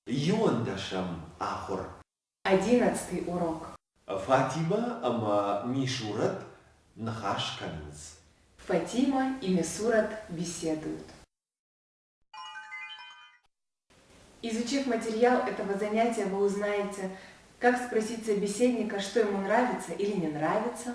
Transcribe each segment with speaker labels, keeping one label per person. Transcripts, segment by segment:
Speaker 1: Иуӕндӕсӕм ахуыр. Одиннадцатый урок. Фатимӕ ӕмӕ Мисурӕт ныхас кӕнынц. Фатимӕ и Мисурӕт беседуют. Изучив материал этого занятия, вы узнаете, как спросить собеседника, что ему нравится или не нравится,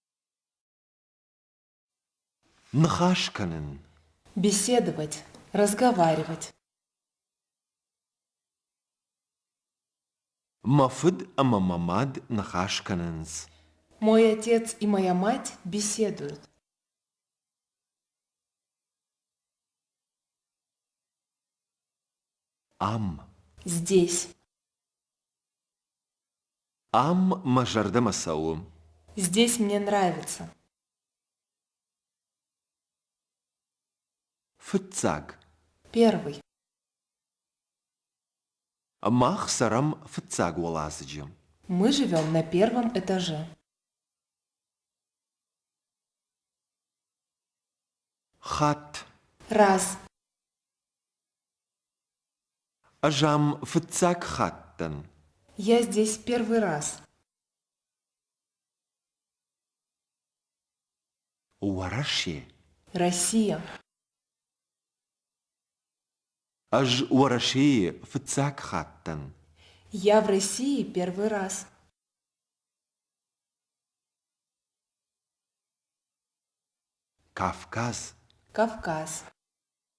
Speaker 1: Ныхас кӕнын. Беседовать, разговаривать. Мӕ фыд ӕмӕ мӕ мад ныхас кӕнынц. Мой отец и моя мать беседуют. Am. Здесь. Ам мӕ зӕрдӕмӕ цӕуы. Здесь мне нравится. Фыццаг. Первый. Мах цӕрӕм фыццаг уӕладзыджы. Мы живем на первом этаже. Хатт. Раз. Ӕз ам фыццаг хатт дӕн. Я здесь первый раз. Уӕрӕсе. Россия. Ӕз Уӕрӕсейы фыццаг хатт дӕн. Я в России первый раз. Кавказ. Кавказ.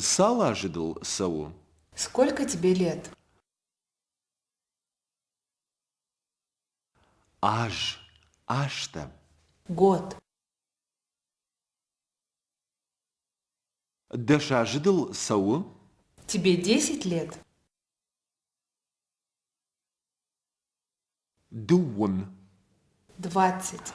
Speaker 1: Цал азы дыл цӕуы? Сколько тебе лет? Аз, азтӕ. Год. Дӕс азы дыл цӕуы? Тебе десять лет? Дыууын. Двадцать.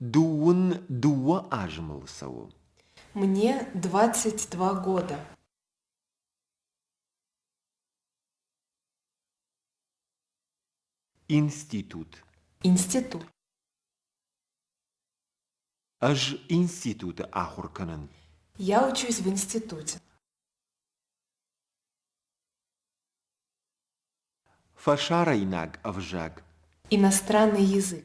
Speaker 1: Дууын дыууӕ азымыл цӕуы. Мне двадцать два года. Институт. Институт. Ӕз институты ахуыр кӕнын. Я учусь в институте. Фӕсарӕйнаг ӕвзаг. Иностранный язык.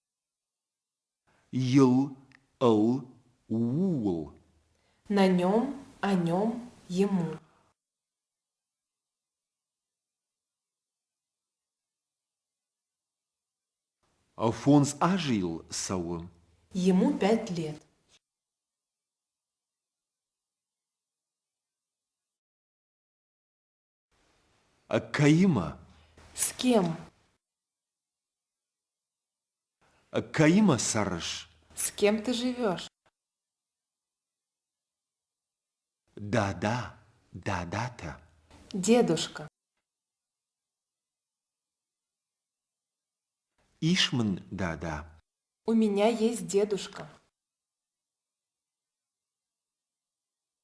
Speaker 1: ил ыл ууыл на нем о нем ему фондз азы йыл цӕуы ему пять лет Кӕимӕ? С кем? Кӕимӕ цӕрыс? С кем ты живешь? Дада, дадата. Дедушка. Ишь мын дада. У меня есть дедушка.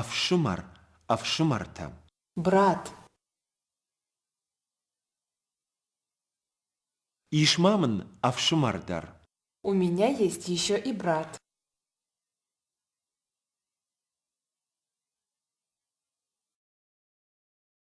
Speaker 1: Ӕфсымӕр, ӕфсымӕртӕ! Брат! Ис ма мын ӕфсымӕр дӕр? У меня есть еще и брат.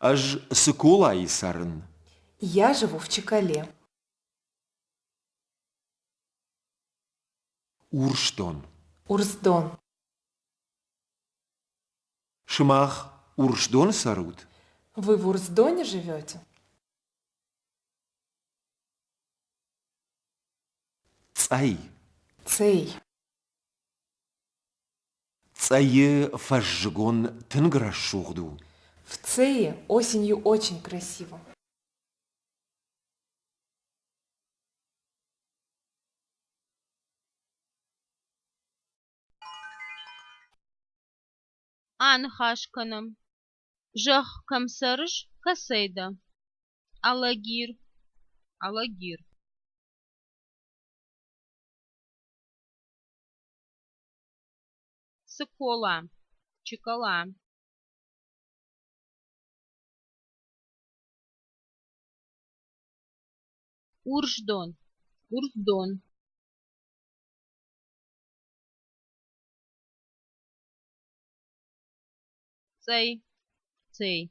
Speaker 1: Ӕз Цыколайы цӕрын. Я живу в Чекале. Урсдон. Урсдон. Сымах Урсдоны цӕрут? Вы в Урсдоне живете? Цъӕй. Цъей. Цъӕйы фӕззыгон тынг рӕсугъд у. В Цэе осенью очень красиво. Аныхас кӕнӕм. Зӕхх кӕм цӕрыс, кӕцӕй дӕ? Алагир. Алагир. Цыкола, Чикола Урждон, Урждон Цей, Цей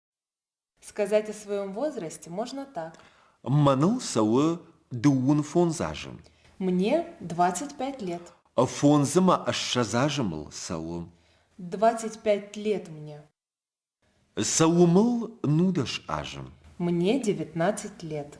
Speaker 1: Сказать о своем возрасте можно так. Мӕныл цӕуы дыууын фондз азы. Мне 25 лет. Фондзы мӕ ссӕдз азы мыл цӕуы. 25 лет мне. Цӕуы мыл нудӕс азы. Мне 19 лет.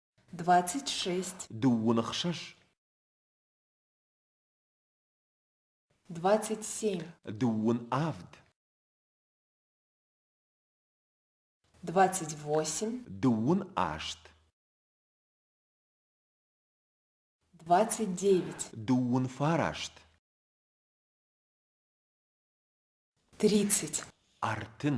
Speaker 1: двадцать шесть дыууын ӕхсӕз двадцать семь дыууын авд двадцать восемь дыууын аст двадцать девять дыууын фараст тридцать артын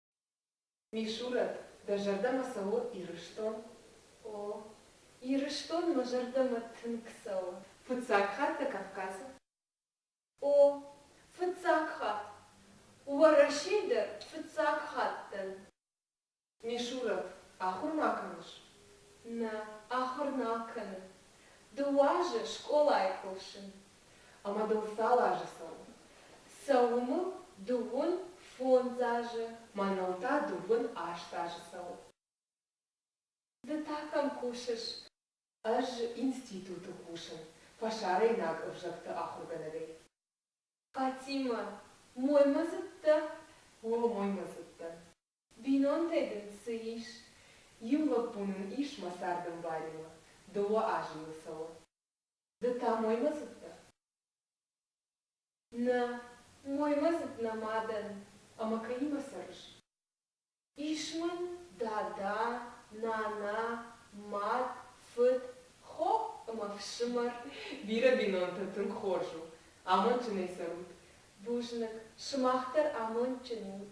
Speaker 1: Мисурӕт, дӕ зӕрдӕмӕ цӕуы Ирыстон? О, Ирыстон мӕ зӕрдӕмӕ тынг цӕуы. Фыццаг хатт дӕ Кавказы? О, фыццаг хатт. Уӕрӕсе дӕр фыццаг хатт дӕн. Мисурӕт, ахуыр ма кӕныс? Нӕ, ахуыр нал кӕнын. Ды уазы скъолайы кусын, ӕмӕ дыл фӕлазыдзӕн. Цӕуыныл дыууын фондз азы, мӕныл та дыууын аст азы цӕуы. Ды та кӕм кусыс? Ӕз институты кусын фӕсарӕйнаг ӕвзӕгты ахуыргӕнӕгӕй. Фатимӕ, моймӕдзыдтӕ? О, моймӕдзыдтӕн. Бинонтӕй дын цы ис? Иу лӕппу нын ис мӕ цардӕмбалимӕ, дыууӕ азы йыл цӕуы. Ды та моймӕдзыдтӕ? Нӕ, моймӕдзыд нӕ мадӕн, ӕмӕ кӕимӕ цӕрыс? Ис мын дада, нана, мад, фыд, хо ӕмӕ фсымӕр. Бирӕ бинонтӕ тынг хорз у, амондджынӕй цӕрут. Бузныг, сымах дӕр амондджын ут.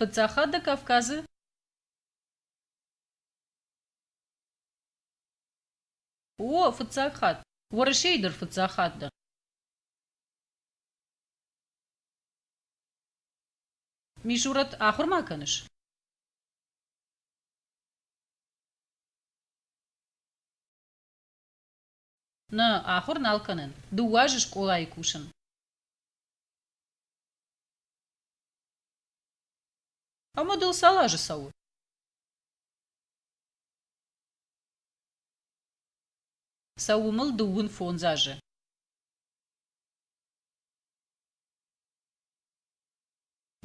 Speaker 1: Паддзахады Кавказы О, фыццаг хатт. Уӕрӕсейы дӕр фыццаг хатт дӕ. Мишурат, ахуыр ма кӕныс? Нӕ, ахуыр нал кӕнын. Дыууӕ азы скъолайы кусын. Ӕмӕ дыл цал азы цӕуы? Цӕуы мыл дыууын фондз азы.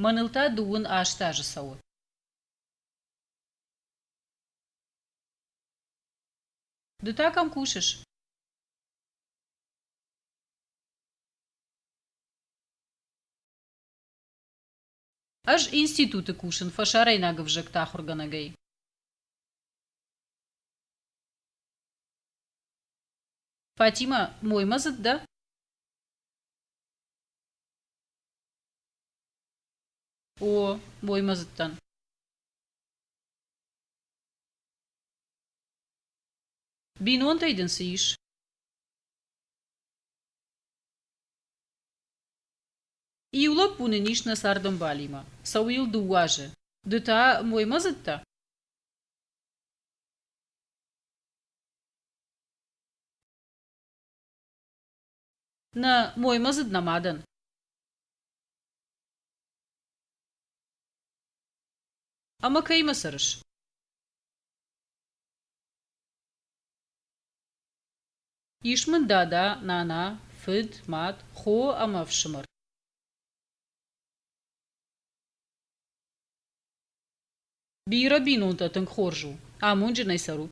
Speaker 1: Мӕныл та дыууын аст азы цӕуы. Ды та кӕм кусыс? Ӕз институты кусын фӕсарӕйнаг ӕвзӕгты ахуыргӕнӕгӕй. Фатимӕ, моймӕдзыд дӕ? О, моймӕдзыд дӕн. Бинонтӕй дын цы ис? Иу лӕппу нын ис нӕ цардӕмбалимӕ. Цӕуы йыл дыууӕ азы. Ды та моймӕдзыдтӕ? Нӕ, моймӕдзыд нӕма дӕн. Ӕмӕ кӕимӕ цӕрыс? Ис мын дада, нана, фыд, мад, хо ӕмӕ ӕфсымӕр. Бирӕ бинонтӕ тынг хорз у. Амонджынӕй цӕрут.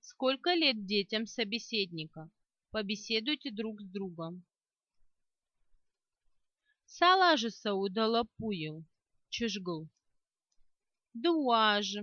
Speaker 1: сколько лет детям собеседника побеседуйте друг с другом салажы сӕу да лӕппуйыл чызгыл ды уазы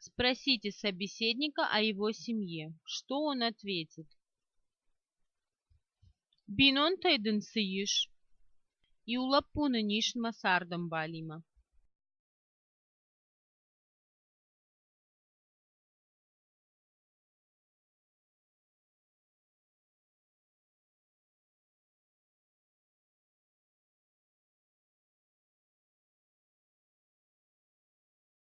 Speaker 1: спросите собеседника о его семье что он ответит бинонтӕй дын цы ис иу лӕппу нын ис мӕсӕрдӕм балимӕ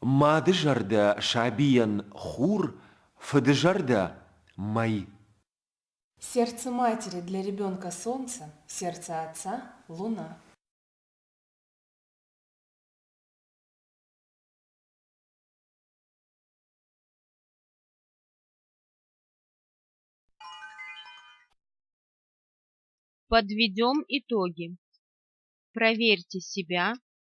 Speaker 1: Мадызӕрдӕ сабийӕн хур, фыдызӕрдӕ мӕй. Сердце матери для ребенка солнце, сердце отца луна. Подведем итоги. Проверьте себя